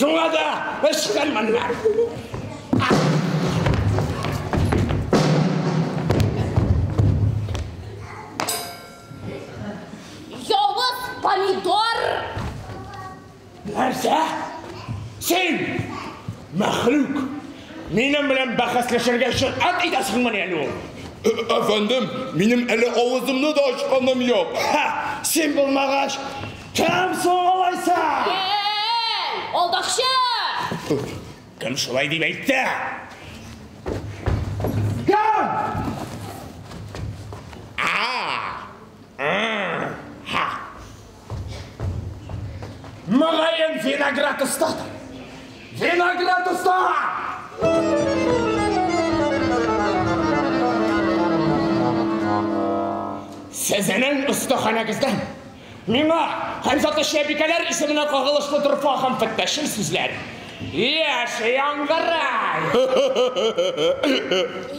Шуңа да ычкын моннан. Явыз помидор! Нәрсә? Син, мәхлүк, минем белән бәхәсләшергә җөрьәт итәсеңме әле ул? Әфәндем, минем әле авызымны да ачканым юк. Ха, син булмагач, Кем соң алайса? Эй, алдакчы! Кем шулай дип әйтте? Кем? Мөгаен виноград оста. Виноград оста! Сезнең остаханәгездән Миңа һәм Саташиябикәләр исеменә кагылышлы Дорфа һәм Фәттәшнең сүзләре. Яши Яңгырай!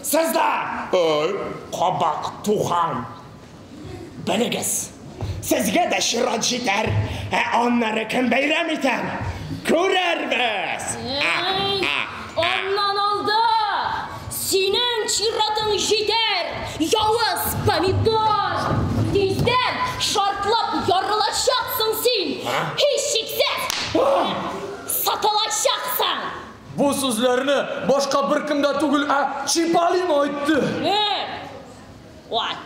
Сездән! Ай! Кабак туган! Белегез, сезгә дә чират җитәр, ә аннары кем бәйрәм итәр, күрербез! Әй, аннан алда! Синең чиратың җитәр, явыз помидор! Тиздән шартлап ярылачаксың син! Һичшиксез, сатылачаксың! Бу сүзләрне башка беркем дә түгел, ә Чиполлино әйтте. Һе, вай!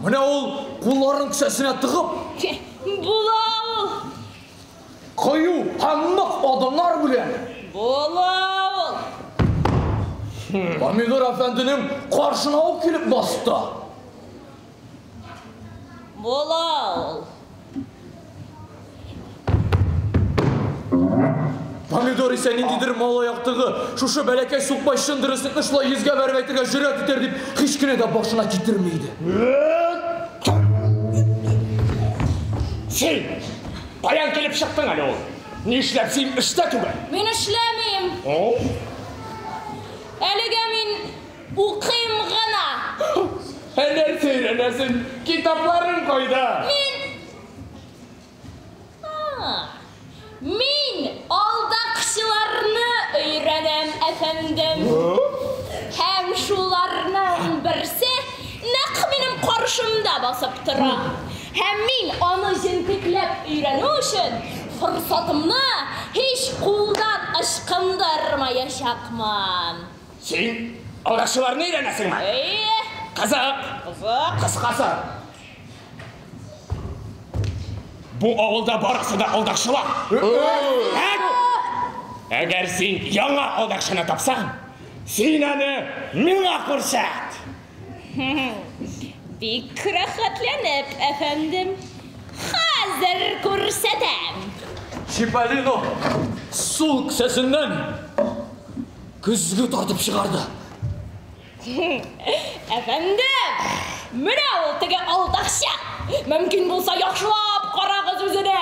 Менә ул, кулларын кесәсенә тыгып. Була ул! Кыю һәм нык адымнар белән. Була ул! Помидор әфәнденең каршына ук килеп басты. Була ул! Помидор исә ниндидер малай актыгы, шушы бәләкәй сукбай чын дөреслекне шулай йөзгә бәреп әйтергә җөрьәт итәр дип, һич кенә дә башына китерми иде. Чи! Каян килеп чыктың әле ул? Нишләп син эштә түгел? Мин эшләмим. Әлегә мин укыйм гына. Ә нәрсә өйрәнәсең? Китапларың кайда? Мин... Мин алдакчыларны өйрәнәм, әфәндем. Һәм шуларның берсе нәкъ минем каршымда басып тора. Һәм мин аны җентекләп өйрәнү өчен форсатымны һич кулдан ычкындырмаячакмын. Син алдашуларны өйрәнәсеңме? Әйе. Кызык. Кызык. Кыскасы, бу авылда барысы да алдашулар. Әк! Әгәр син яңа алдакчыны тапсаң, син аны миңа күрсәт! Бик рәхәтләнеп, әфәндем. Хәзер күрсәтәм. Чиполлино сул кесәсеннән көзге тартып чыгарды. Әфәндем, менә ул теге алдаучан. Мөмкин булса, яхшылап карагыз үзенә.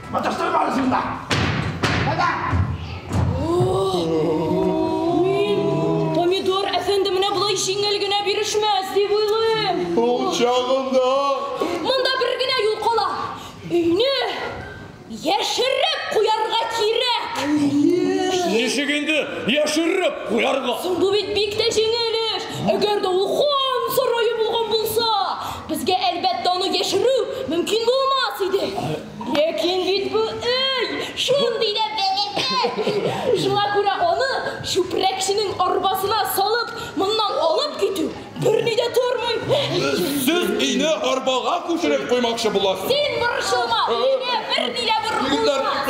Помидор әфәнде менә болай җиңел генә бирешмәс дип уйлыйм. Ул чагында Монда бер генә юл кала. Өйне яшереп куярга кирәк. Ничек инде яшереп куярга? Бу бит бик тә җиңел эш. Әгәр дә ул хан сарае булган булса, безгә әлбәттә аны яшерү мөмкин булмас иде. Ләкин бит бу өй шундый да бәләкәй. Шуңа күрә аны чүпрәкченең арбасына салып, моннан алып китү берни дә тормый. Сез өйне арбага күчереп куймакчы буласыз. Син борчылма, өйгә берни дә борылмас.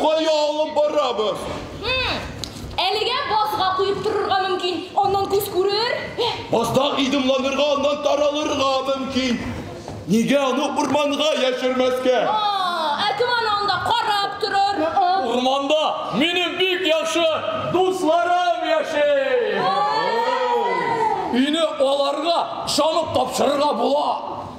Кая алып барабыз? Әлегә базга куеп торырга мөмкин, аннан күз күрер. Базда идымланырга, аннан таралырга мөмкин. Нигә аны урманга яшермәскә? О, ә кем аны анда карап торыр? Урманда минем бик яхшы дусларым яши. Өйне аларга ышанып тапшырырга була.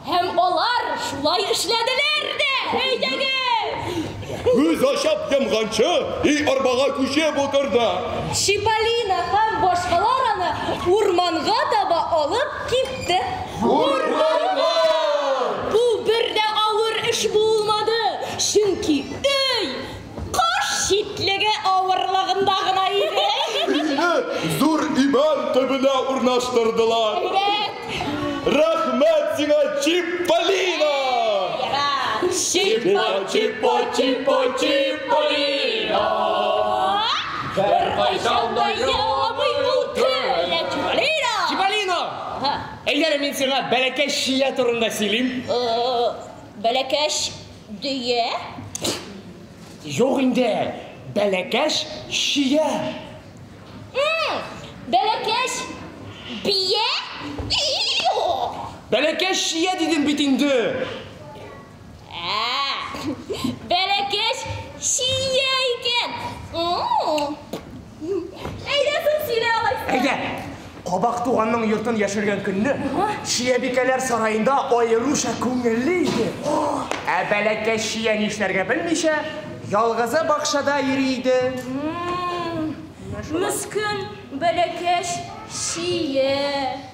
Һәм алар шулай эшләделәр дә. Әйдәгез! Күз ачып йомганчы, өй арбага күчеп утырды. Чиполлино һәм башкалар аны урманга таба алып Китте. Бур, бур, бур! Бу бер дә авыр эш булмады, чөнки өй каш читлеге авырлыгында гына иде. Өйне зур имән төбенә урнаштырдылар. Әйбәт! Рәхмәт сиңа, Чиполлино! Ярар. Чип-по-чип-по-чип-по-чип-полино! Беркайчан да яламый ул көлә Чипалино! Чипалино! Әйдәле мин сиңа бәләкәч чия турында сөйлим. Бәләкәч дөя? Юк инде, бәләкәч чия. Бәләкәч бия? Бәләкәч чия дидем бит инде. Бәләкәч чия икән. Әйдә күп сөйлә алай. Әйдә. Кабак туганның йортын яшергән көнне Чиябикәләр сараенда аеруча күңелле иде. Ә бәләкәч чия нишләргә белмичә, ялгызы бакчада йөри иде. Мескен бәләкәч чия.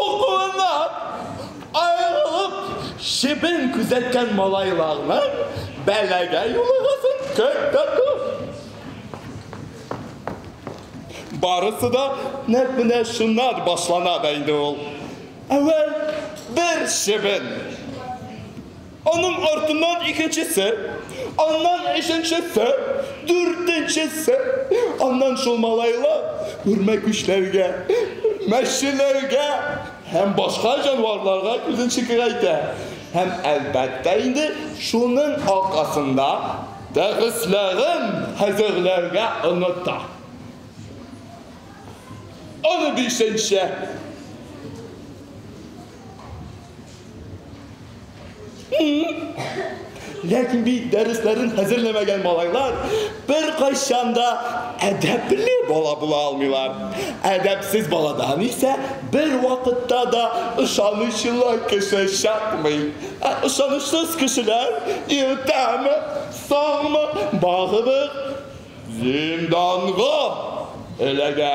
Укуыннан аерылып чебен күзәткән малайларның бәлагә юлыгысын көтеп барысы да нәк менә шуннан башлана да инде ул. Әүвәл бер чебен. Аның артыннан икенчесе, аннан өченчесе, дүртенчесе, аннан шул малайлар үрмәкүчләргә, мәчеләргә һәм башка җанварларга күзен чикерәйтә. Һәм, әлбәттә инде, шуның аркасында дәресләрен хәзерләргә оныта. Унбишенче. Ләкин бит дәресләрен хәзерләмәгән малайлар бер кайчан да әдәпле бала була алмыйлар. Әдәпсез баладан исә бер вакытта да ышанычлы кеше чыкмый. Ә ышанычсыз кешеләр иртәме, соңмы, багыбыз зинданга эләгә.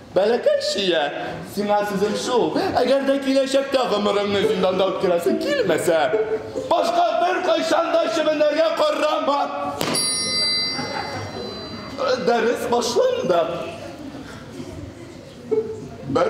Бәләкәй чия, сиңа сүзем шул, әгәр дә киләчәктә гомереңне зинданда үткәрәсең килмәсә, башка беркайчан да чебенләргә карама. Дәрес башланды. Бер.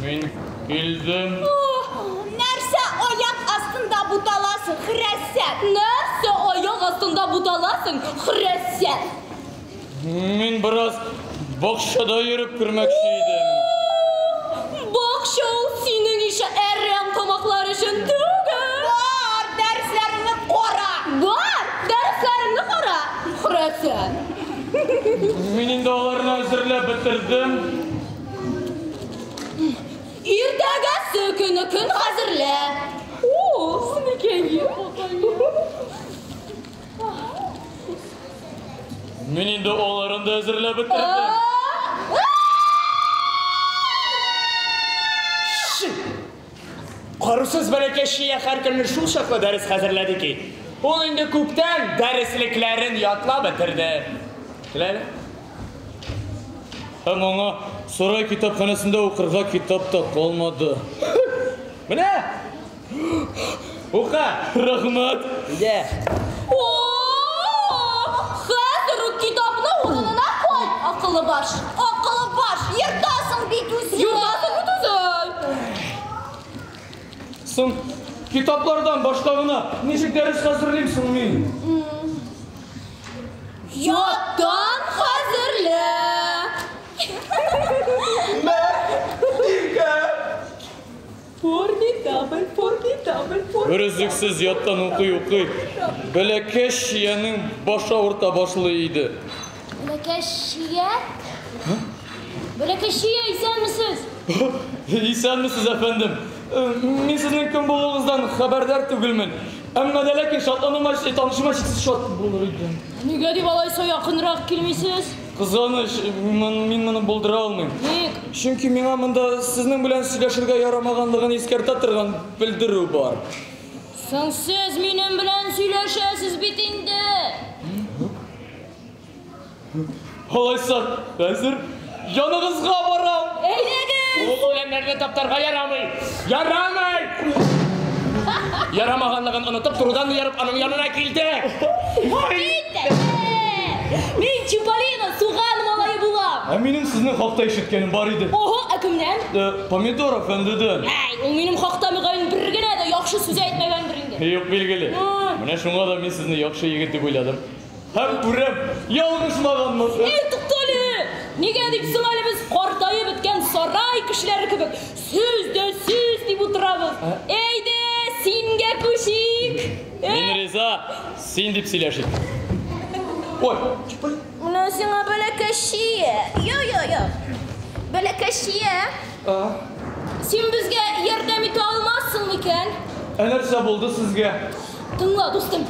Мин килдем. Нәрсә аяк астында буталасың, хрәсәт? Нәрсә аяк астында буталасың, хрәсәт? Мин бераз бакчада йөреп кермәкче идем. Бакча ул синең ише әрәм тамаклар өчен түгел. Бар, дәресләреңне кара. Бар, дәресләреңне кара, хрәсәт. Мин инде аларны әзерләп бетердем. Иртәгәсе көне көн хәзерлә. О, никәйе. Мин инде аларын да әзерләп бетердем. Карусыз бәләкәй Шия һәркөнне шул чаклы дәрес хәзерләде ки, ул инде күптән дәреслекләрен ятлап бетерде. Теләде. Һәм аңа сарай китапханәсендә укырга китап та калмады. Менә! Ука! Рахмат! Дә! О! Хәзер үк китапны урынына кой, акылы баш! Акылы баш! Ертасың бит үзен! Ертасың бит үзен! Соң, китаплардан башка гына ничек дәрес хәзерлим соң мин? Яттан хәзерлә! Мә, иркә! Формидабель, формидабель, формидабель. Берөзлексез яттан укый-укый, бәләкәч чиянең башы авырта башлый иде. Бәләкәч чия? Бәләкәч чия, исәнмесез! Исәнмесез, әфәндем. Э, Мин сезнең кем булуыгыздан хәбәрдар түгелмен. Әмма дә ләкин шатлануыма, танышыма чиксез шат булыр идем. Нигә дип алайса якынрак килмисез? Кызганыч, мин моны булдыра алмыйм. Ник? Чөнки миңа монда сезнең белән сөйләшергә ярамаганлыгын искәртә торган белдерү бар. Соң сез минем белән сөйләшәсез бит инде! Алайса, хәзер яныгызга барам! Әйдәгез! Ул үләннәрне таптарга ярамый! Ярамый! Ярамаганлыгын онытып, турыдан ярып, аның янына килде. Мин Чиполлино суган малае булам. Ә минем сезнең хакта ишеткәнем бар иде. Ого, ә кемнән? Э, Помидор әфәндедән. Әй, ул минем хакта мөгаен бер генә дә яхшы сүз әйтмәгәндер инде. Юк, билгеле. Менә шуңа да мин сезне яхшы егет дип уйладым. Һәм күрәм, ялгышмаганмын. Әй, туктале! Нигә дип соң әле без картаеп беткән сарай кешеләре кебек сүз дә сүз дип утырабыз? Әйдә, сингә күчик! Мин риза, син дип сөйләшик. Ой, чыпый. Менә сиңа бәләкәччия. Йо, йо, йо. Бәләкәччия. А? Син безгә ярдәм итә алмассың микән? Ә нәрсә булды сезгә? Тыңла, дустым.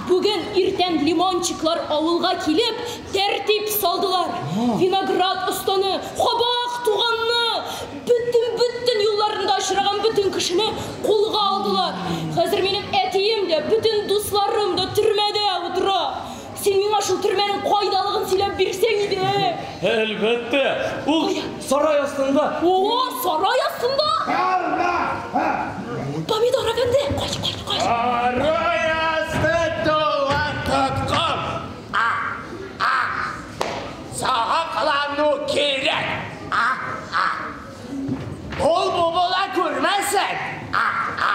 Бүген иртән лимончиклар авылга килеп, тәртип салдылар. Виноград останы, кабак туганны, бөтен, бөтен юлларында очраган бөтен кешене кулга алдылар. Хәзер минем әтием дә, бөтен дусларым да төрмәдә утыра. Син миңа шул төрмәнең кайдалыгын сөйләп бирсәң иде! Әлбәттә! Ул сарай астында! О-о, сарай астында! Карма! Ха! Помидор әфәнде, кач, кач, кач! Сарай асты тулы тоткын! А! А! Сагыклану кирәк! А! А! Ул бу була күрмәсен! А! А!